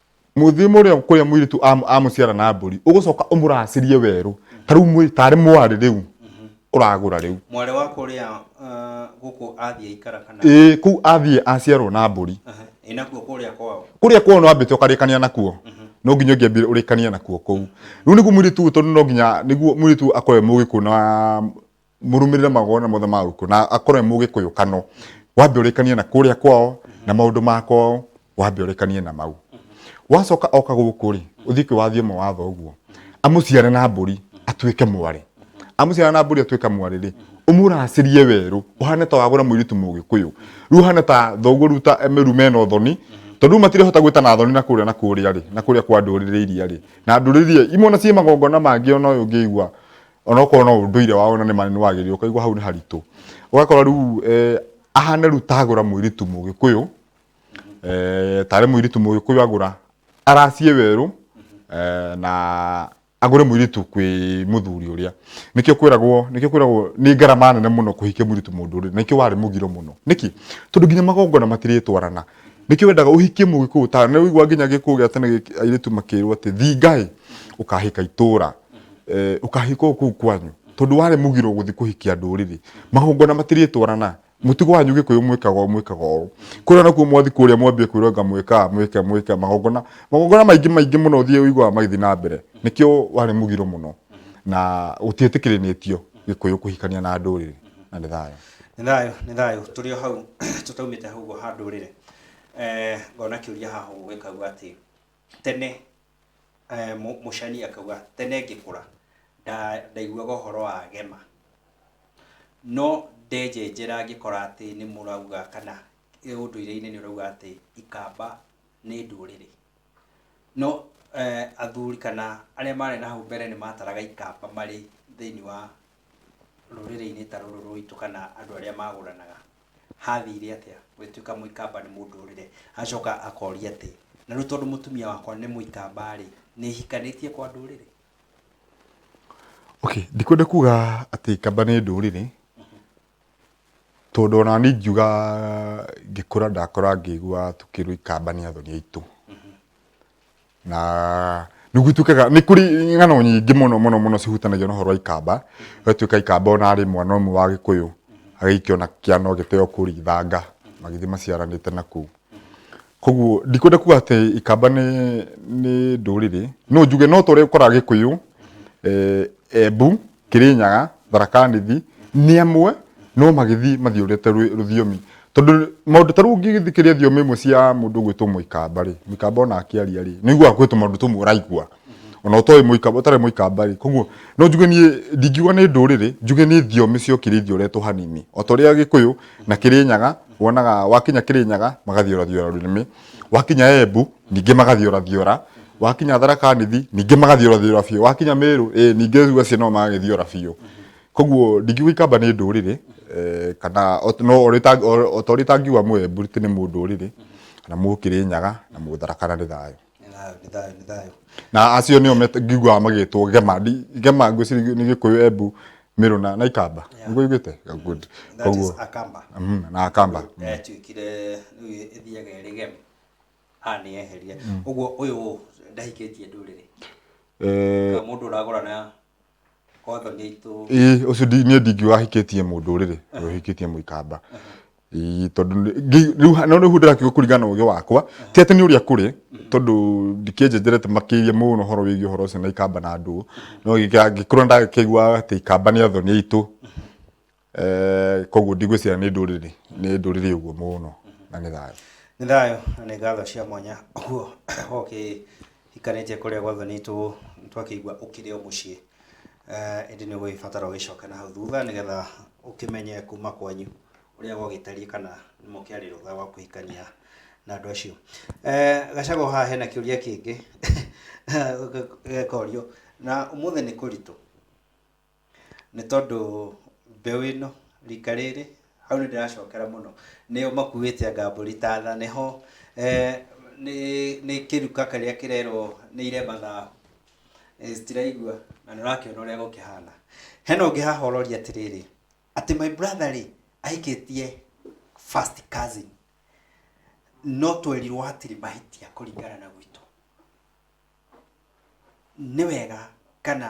mũthimu ũrĩa kũrĩa mũirĩtu am- amũciara na mbũri ũgũcoka ũmũracĩrie werũ ta rĩu mwĩ- tarĩ mwarĩ rĩu ũragũra rĩu mwarĩ wa kũrĩa ah, gũkũ athiĩ aikara kana ĩĩ kũu athiĩ aciarwo na mbũri Aha, ĩ nakuo kũrĩa kwao kũrĩa kwao no ambĩte ũkarĩkania nakuo no nginya ũngĩambire ũrĩkanie nakuo kũu rĩu nĩguo mũirĩtu ũyũ tondũ no nginya nĩguo mũirĩtu ũyũ akorwe mũgĩkũ na mũrũmĩrĩre magongona mothe ma gũkũ na akorwe mũgĩkũyũ kano wambe ũrĩkanie na kũrĩa kwao na maũndũ ma kwao wambe ũrĩkanie na mau wacoka oka gũkũ rĩ ũthiĩ kwĩwathie mawatho ũguo amũciare na mbũri atuĩke mwarĩ amũciara na mbũri atuĩka mwarĩ rĩ ũmũracĩrie werũ ũhane ta wagũra mũirĩtu mũgĩkũyũ rĩu ũhane ta thoguo rĩu ta meru mena ũthoni tondũ rĩu matirĩhota gwĩta na thoni na kũrĩa na kũrĩa rĩ na kũrĩa kwa ndũrĩrĩ iria rĩ na ndũrĩrĩ iria imwe ona ciĩ magongona mangĩ ona ũyũ ũngĩigua onokorwo no ũndũire wao na nĩ manene wagĩrĩire ũkaigua hau nĩ haritũ ũgakora rĩu eh, ahane rĩu tagũra mũirĩtu mũgĩkũyũ eh, tarĩ mũirĩtu mũgĩkũyũ agũra aracie werũ eh, na agũre mũirĩtu kwĩ mũthuri ũrĩa nĩkĩo kwĩragwo nĩkĩo kwĩragwo nĩ ngarama nene mũno kũhikia mũirĩtu mũndũ ũrĩa nĩkĩo warĩ mũgiro mũno nĩkĩ tondũ nginya magongona matirĩtwarana nĩkĩo wendaga ũhikie mũgĩkũyũ ta nĩ ũigua nginya gĩkũyũ gĩa tene gĩkĩ- airĩtu makĩrwo atĩ thingaĩ ũkahika itũra eh, ukahikwo kuu kwanyu tondu wari mugiro guthi kuhikia nduriri magongona matirĩtwarana mutigo wanyu gikuyu mwikaga ũũ, mwikaga ũũ kuria nakuo mwathi kuria mwambie kwirwo nga mwika mwika mwika magongona magongona maingi maingi muno uthie uigwa magithi na mbere nikio wari mugiro muno na gutiĩtĩkĩrĩnĩtio gikuyu kuhikania na nduriri na nĩ thayũ nĩ thayũ nĩ thayũ tũrĩ o hau tũtaumĩte hau ũguo ha ndũrĩrĩ Eh, ngona kĩũria haha ũgwĩkagua atĩ tene eh, Mũ- mũcani akauga tene ngĩkũra nda- ndaiguaga ũhoro wa gema no ndenjenjera ngĩkora atĩ nĩ mũrauga kana eh, ũndũire-inĩ nĩ ũrauga atĩ ikamba nĩ ndũrĩrĩ no eh, athuri kana arĩa marĩ na hau mbere nĩ mataraga ikamba marĩ thĩinĩ wa rũrĩrĩ-inĩ ta rũrũ rwitũ kana andũ arĩa magũranaga, hathire atĩa gũgĩtuĩka mũikamba nĩ mũndũrĩre? Acoka akoria atĩ, na rĩu tondũ mũtumia wakwa nĩ mũikamba-rĩ, nĩ hikanĩtie kwa ndũrĩrĩ? Okay, ndikwenda kuga atĩ ikamba nĩ ndũrĩrĩ, Tondũ ona niĩ ingiuga ngĩkũra ndakũra ngĩigua tũkĩrwo ikamba nĩ athoni aitũ na nĩgũtuĩkaga nĩ kũrĩ ng'ano nyingĩ mũno mũno mũno cihutanagia na ũhoro wa ikamba gũgatuĩka ikamba ona arĩ mwana ũmwe wa gĩkũyũ agĩikio na kĩana ũgĩteo kũrĩa ithanga magĩthiĩ maciaranĩte na kũu. koguo ndikwenda kuga atĩ ikamba nĩ nĩ ndũrĩrĩ no njuge no tũrĩa ũkoraga gĩkũyũ eh, embu kĩrĩnyaga tharakanithi nĩ amwe no magĩthiĩ mathiũrĩte rũ- rũthiomi tondũ maũndũ ta rĩu ũngĩgĩthikĩria thiomi imwe cia mũndũ gwĩtwo mũikamba rĩ mũikamba ona akĩaria rĩ nĩiguaga gwĩtwo maũndũ tũmwe ũraigua ona ũtoĩ mũikamba ũtarĩ mũikamba rĩ koguo no njuge niĩ ndingiuga nĩ ndũrĩrĩ njuge nĩ thiomi cia ũkirĩithia ũretwo hanini o ta ũrĩa gĩkũyũ na kĩrĩnyaga wonaga wakinya kĩrĩnyaga magathiũrathiũra rũrĩmĩ wakinya embu ningĩ magathiũrathiũra wakinya tharaka nithi ningĩ magathiũrathiũra biũ wakinya mĩrũ ĩ ningĩ rĩu acio no magathiũra biũ koguo ndingiuga ikamba nĩ ndũrĩrĩ eh, kana o- no ũrĩ ta- o- o ta ũrĩ tangiuga mũembu atĩ nĩ mũndũrĩrĩ na mũkĩrĩnyaga na mũtharakana nĩ thayũ na acio nio ngiguaga magitwo gema gema ngwiciri ni gikuyu embu miruna na ikamba niguo igite good koguo mhm, na akamba mm. eh, tuikire ithiaga iri gem a ni eheria uguo uyu ndahikitie nduriri eh mundu uragora na ĩĩ ũcio niĩ ndingiuga ahikĩtie mũndũ rĩrĩ ũyũ ahikĩtie mũikamba ĩĩ tondũ rĩu no rĩu ndĩrakiuga kũringana na ũgĩ wakwa ti atĩ nĩ ũrĩa kũrĩ tondũ ndikĩnjenjerete makĩria mũno ũhoro wĩgiĩ ũhoro ũcio na ikamba na ndũũ no angĩkorwo nĩ ndakĩiguaga atĩ ikamba nĩ athoni aitũ Eh, koguo ndigwĩciria nĩ ndũrĩrĩ nĩ ndũrĩrĩ ũguo mũno na nĩ thayũ nĩ thayũ na nĩ ngatho cia mwanya ũguo ũkĩhikanĩtie kũrĩa gwathonĩtwo twakĩigua ũkĩrĩ o mũciĩ Eh, ĩndĩ nĩ ũgũgĩbatara ũgĩcoke na hau thutha nĩgetha ũkĩmenye kuma kwanyu ũrĩa gwagĩtariĩ kana nĩ mũkĩarĩ rũtha wa kũhikania na andũ acio Eh, gacago haha hena kĩũria kĩngĩ gekorio na ũmũthĩ nĩ kũritũ Nĩ tondũ mbeũ ĩno, rika rĩrĩ, hau nĩ ndĩracokera mũno, nĩo makuĩte anga mbũri ta tha, nĩ ho nĩ nĩ kĩruka kĩrĩa kĩrerwo nĩ ire mathaa, citiraigua na nĩ ũrakĩona ũrĩa gũkĩhana. Hena ũngĩ haha ũroria atĩrĩrĩ, atĩ my brother rĩ, ahikĩtie first cousin, no twerirwo hatirĩ mahĩtia kũringana na gwitũ. Nĩ wega kana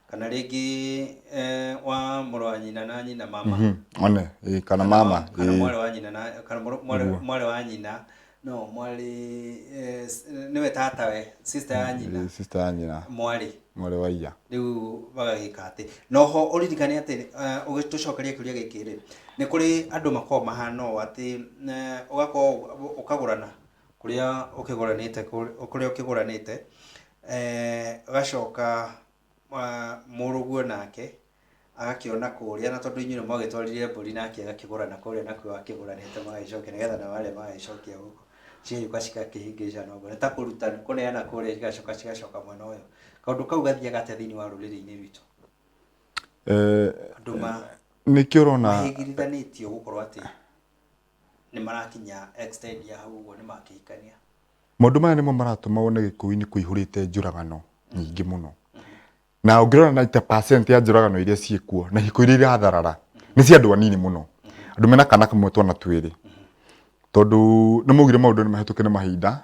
kana rĩngĩ eh, wa mũrũ wa nyina na nyina mama Mhm, one ĩĩ, kana mama kana ĩĩ. mwarĩ wa nyina na kana mũrũ- mwarĩ Ũguo. mwarĩ wa nyina no mwarĩ eh, s- nĩwe tata we sister ya nyina Ĩĩ, sister ya nyina mwarĩ mwarĩ wa iya rĩu bagagĩka atĩ noho ũririkane atĩ eh, ũgĩtũcokeria kĩũria gĩkĩ rĩ nĩ kũrĩ andũ makoragwo mahana ũũ atĩ eh, ũgakorwo ũkagũrana kũrĩa ũkĩgũranĩte kũrĩa ũkĩgũranĩte, ũgacoka mũrũguo nake agakĩona kũrĩa na tondũ inyuĩ nĩ mwagĩtwarire mbũri nake agakĩgũra na kũrĩa na kũrĩa akĩgũranĩte magagĩcokia nĩgetha nao arĩa magagĩcokia gũkũ cigagĩũka cigakĩhĩngĩcana ũguo. Nĩ ta kũruta nĩ kũneana kũrĩa igacoka cigacoka mwena ũyũ. Kaũndũ kau gathiaga atĩa thĩiniĩ wa rũrĩrĩ-inĩ rwitũ? Andũ ma nĩkĩo ũrona mahĩngĩrithanĩtio gũkorwo atĩ nĩ marakinya extend ya hau ũguo nĩ makĩhikania Maũndũ maya nĩmo maratũma wone Gĩkũyũ-inĩ kũihũrĩte njũragano nyingĩ mũno. Na ũngĩrora 90% ya njũragano iria ciĩkuo na ihiko iria iratharara nĩ cia andũ anini mũno. Andũ mena kana kamwe twana twĩrĩ. Tondũ nĩ maugire maũndũ nĩ mahĩtũke nĩ mahinda.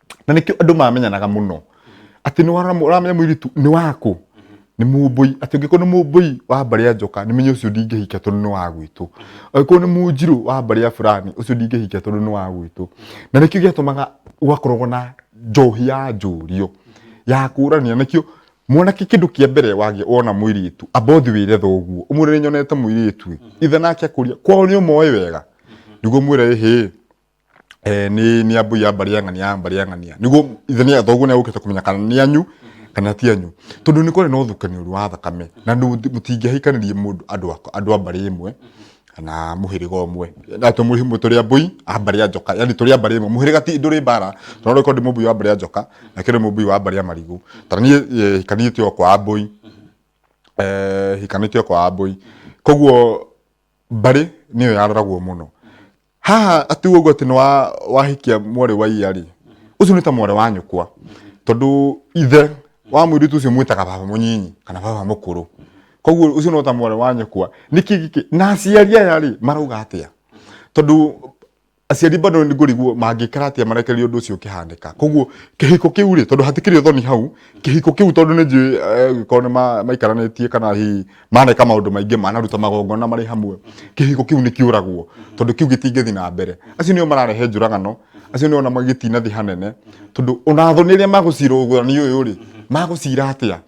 na nĩkĩo andũ mamenyanaga mũno atĩ nĩ wara- ũramenya mũirĩtu nĩ waku nĩ mũmbũi atĩ ũngĩkorwo nĩ mũmbũi wa mbarĩ ya njoka nĩ menye ũcio ndingĩhika tondũ nĩ wa gwitũ angĩkorwo nĩ mũnjirũ wa mbarĩ ya fulani ũcio ndingĩhika tondũ nĩ wa gwitũ na nĩkĩo gĩatũmaga gwakoragwo na njohi ya njũrio ya kũrania nĩkĩo mwanake kĩndũ kĩa mbere wagĩa wona mũirĩtu amba ũthi wĩre thoguo ũmwĩre nĩ nyonete mũirĩtu ĩ ithe nake akũria kwao nĩ ũmoĩ wega nĩguo mwĩre ĩhĩ eh, ni ni ambui ya mbari ya ng'ania ya mbari ya ng'ania niguo ithe ni athoguo ni agukite kumenya kana ni anyu kana ti anyu tondu ni kwari na uthukani uri wa thakame na mutingihikanirie mundu andu andu a mbari imwe kana muhiriga umwe na to muhimu turi ambui a mbari ya njoka yani turi a mbari imwe muhiriga ti nduri mbara no ro kondi mubui wa mbari ya njoka na kiri mubui wa mbari ya marigu tara ni eh, hikanire ti kwa ambui eh hikanire ti kwa ambui koguo mbari niyo yaroragwo muno haha atiuga ũguo atĩ nĩ wa- wahikia mwarĩ wa iya rĩ ũcio nĩ ta mwarĩ wa nyũkwa tondũ ithe wa mũirĩtu ũcio mwĩtaga baba mũnyinyi kana baba mũkũrũ koguo ũcio no ta mwarĩ wa nyũkwa nĩkĩ gĩkĩ na aciari aya rĩ marauga atĩa tondũ aciari bado nĩ ngũriguo mangĩkara atĩa marekereria ũndũ ũcio ũkĩhanĩka koguo kĩhiko kĩu rĩ tondũ hatikĩrĩ ũthoni hau kĩhiko kĩu tondũ nĩ njũĩ eh, korwo nĩ ma- maikaranĩtie kana hihi maneka maundu maingi manaruta magongona mari hamwe kihiko kiu ni kiuragwo tondu kiu gitingithi na mbere acio nio mararehe njuragano acio nio ona magitinathi hanene tondu ona thoni iria magucira ugurani uyu ri magucira atia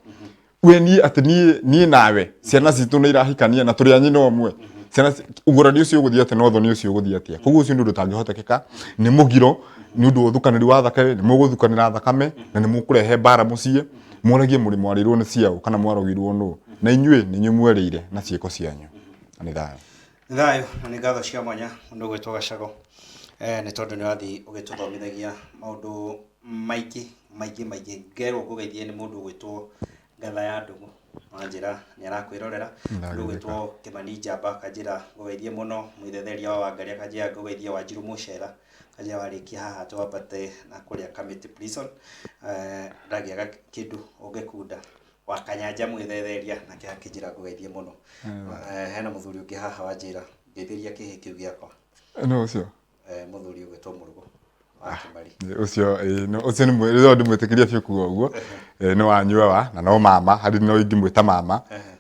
we ni ati ni ni nawe ciana citu ni irahikania na turi anyina omwe ciana ci- ugurani ucio uguthii atia no thoni ucio uguthii atia koguo ucio ni undu utangihotekeka ni mugiro ni undu wa uthukaniri wa thakame ni muguthukanira thakame na ni mukurehe mbara mucii Mũragie mũrĩ mwarĩirwo nĩ ciaũ kana mwarogirwo nũ, na inyuĩ nĩ inyuĩ mwerĩire na ciĩko cianyu. Na nĩ thayũ. Nĩ thayũ na nĩ ngatho cia mwanya mũndũ ũgwĩtwo Gacagũ nĩ tondũ nĩ ũrathiĩ ũgĩtũthomithagia maũndũ maingĩ maingĩ maingĩ. Ngerwo ngũgeithie nĩ mũndũ ũgwĩtwo Ngatha ya Ndũgũ wanjĩra nĩ arakwĩrorera. Mũndũ ũgwĩtwo Kĩmani Njamba akanjĩra ngũgeithie mũno, Mwĩthetheria wa Wangarĩ akanjĩra ngũgeithie, Wanjirũ Mũcera Karia warĩkia haha twambate na kũrĩa Kamiti Prison, ndagĩa kĩndũ ũngĩkunda, wakanyanja mwĩthereria nake akĩnjĩra ngũgeithie mũno. Hena mũthuri ũngĩ haha wanjĩra ngeithĩria kĩhĩ kĩu gĩakwa. Nũ ũcio? Mũthuri ũgwĩtwo Mũrugo wa ah, Kĩmari. Ũcio ũcio nĩ mwĩrĩro ndĩmwĩtĩkĩria biũ kuo ũguo. Nĩ wanyua wa na no mama, harĩ no ingĩmwĩta mama.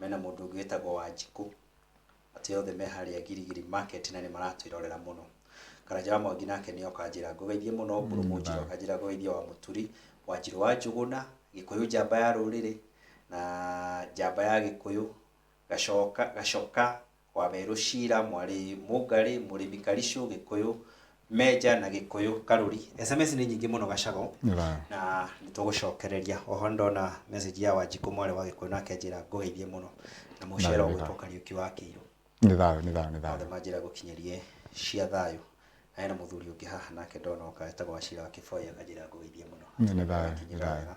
mena mũndũ ũngĩ wĩtagwo Wanjikũ, atĩ othe me harĩa Girigiri market na nĩ maratwĩrorera mũno. Karanja wa Mwangi nake nĩ oka anjĩra ngũgeithie mũno, Mbũrũ Mũnjirũ akanjĩra ngũgeithie wa Mũturi, Wanjirũ wa Njũgũna, Gĩkũyũ njamba ya rũrĩrĩ, na njamba ya Gĩkũyũ, Gacoka, Gacoka Waweru Shira, Mwari Mũngarĩ, Mũrĩmi Karicũ, Gĩkũyũ, Menja na Gĩkũyũ Karũri. SMS nĩ nyingĩ mũno Gacago Ra. na nĩ tũgũcokereria. Oho nĩ ndona message ya Wanjikũ Mwari wa Gĩkũyũ nake anjĩra ngũgeithie mũno na mũcere Nawe nĩ ũgwĩtwo thaa. Kariũki wa Kĩirũ. Nĩ thayũ, nĩ thayũ, nĩ thayũ. Othe manjĩra ngũkinyĩrie cia thayũ. Na hena mũthuri ũngĩ haha nake ndona oka etagwo Wachira wa Kĩboi akanjĩra ngũgeithie mũno. Nĩ thayũ, nĩ Akinyĩra thayũ. wega.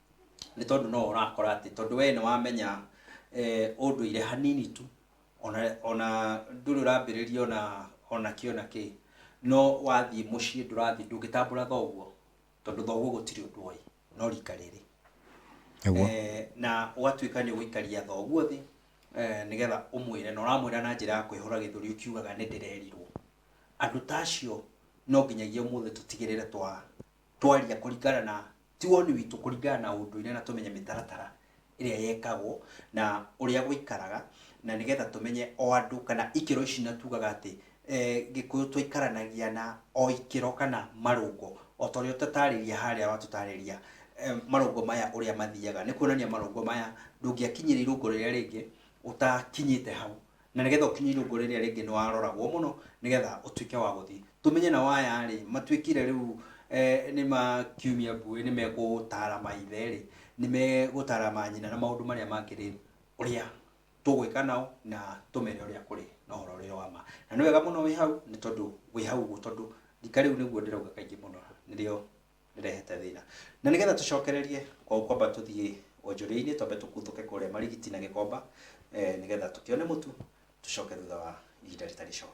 nĩ tondũ no ũrakora atĩ tondũ we nĩ wamenya eh, ũndũire hanini tu ona ona ndũrĩ ũrambĩrĩria ona ona kĩ ona kĩ no wathiĩ mũciĩ ndũrathiĩ ndũngĩtambũra thoguo tondũ thoguo gũtirĩ ũndũ oĩ no rika rĩrĩ Nĩguo. Eh, na ũgatuĩka nĩ ũgũikaria thoguo thĩ eh, nĩgetha ũmwĩre na ũramwĩra na njĩra ya kwĩhũra gĩthũri ũkiugaga nĩ ndĩrerirwo andũ ta acio no nginyagia ũmũthĩ tũtigĩrĩre twa twaria kũringana na ti woni witũ kũringana na ũndũire na tũmenye mĩtaratara ĩrĩa yekagwo na ũrĩa gũikaraga na nĩgetha tũmenye o andũ kana ikĩro ici na tugaga atĩ eh, gĩkũyũ twaikaranagia na o ikĩro kana marũngo o ta ũrĩa ũtatarĩria harĩa watũtarĩria eh, marũngo maya ũrĩa mathiaga nĩ kuonania marũngo maya ndũngĩakinyĩra irũngo rĩrĩa rĩngĩ ũtakinyĩte hau Na nĩ getha ũkinye irũngũ rĩrĩa rĩngĩ nĩ waroragwo mũno nĩ getha ũtuĩke wa gũthiĩ. Tũmenye nao aya rĩ, matuĩkire rĩu nĩ ma kiumia mbuĩ nĩ megũtaara maithe rĩ, nĩ megũtaara manyina na maũndũ marĩa mangĩ rĩ, ũrĩa tũgwĩka nao na tũmere ũrĩa kũrĩ na ũhoro ũrĩa wa ma. Na nĩ wega mũno wĩ hau nĩ tondũ wĩ hau ũguo tondũ rika rĩu nĩguo ndĩrauga kaingĩ mũno nĩrĩo... nĩrehete thĩna na nĩgetha tũcokererie kwa gũkwamba tũthiĩ wonjoria-inĩ twambe tũkuthũke kũrĩa marigiti na gĩkomba eh, nĩgetha tũkĩone mũtu tũcoke thutha wa ihinda rĩtarĩ coo